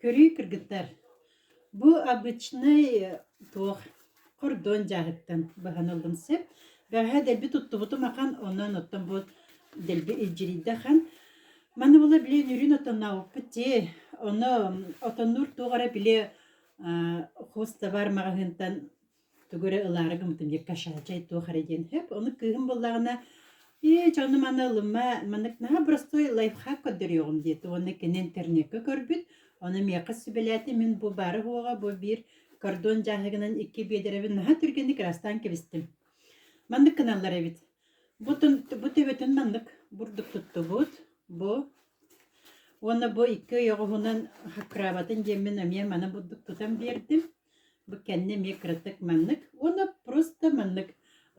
Көрүү кыргыттар, бу обычнай туох хордуон дьааһыктан баһан ыллым сөп. Бэҕэһээ дэлби туттубутум ахан, онон оттон бу дэлби илдьирийдэ ахан. Маны була били нөрүүн отоннообуппут дии. Ону отоннуур туох эрэ били хвостабар маҕаһыынтан тугу эрэ ылаары гыммытым диэки кашаль чай туох эрэ диэн өп ону кыыһым буллаҕына ээ дьэ ону манна ылымма маннык наһаа простой лайфхак көрдөрүөҕүм диэтэ уонна кини интернекка көрбүт ону миэхэ сүбэлээтэ мин бу бары буоҕа бу биир кордон дьааһыгынан икки биэдэрэбин наһаа түргэнник ырастаан кэбистим маннык гыналлар эбит бу бу төбөтүн маннык бурдук туттубут бу уонна бу икки ойоҕоһунан хаккыраабатын диэммин эмиэ маны бурдук тутан биэрдим Бу кэннэ эмиэ кыратык маннык уонна просто маннык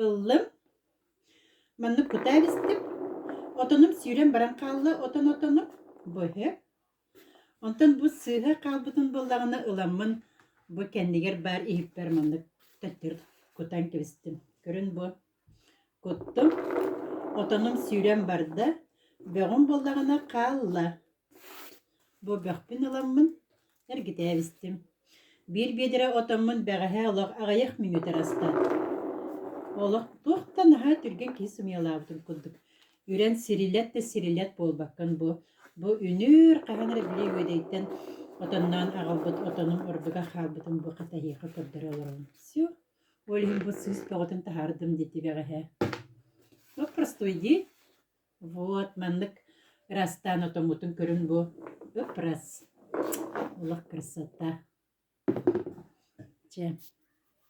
ыллым. Маннык кутаа бистим. Отонум сүүрэн баран хаалла отон отону быһы. Онтон бу сыыһа хаалбытын буллаҕына ыламмын бу кэннигэр баар иһиппэр маннык төттөрү кутан кэбистим. Көрүн бу Куттум, отонум сүүрэн барда, бөҕүм буоллаҕына хаалла. Бу бөхпүн ыламмын, эргитээбистим. Биир биэдэрэ отоммун бэҕэһээ олох аҕыйах мүнүүтэ аста. Олох туох да наһаа түргэн киһи сымыйалаабытын курдук. Үрэн сирилэт да сирилэт буолбаккын бу. Бу үнүүр хаһан эрэ били үөдэйтэн отонноон аҕалбыт отонум ордуга хаалбытын бу хатаһыаха көрдөрө олоробун. Всё. Ол иһин бу сыыс бөҕөтүн таһаардым дии тибэҕэһэ. Ну, простуй дии. Вот, маннык ырастаан отоммутун көрүн бу. Ыпрас. Олох красота. Чэ.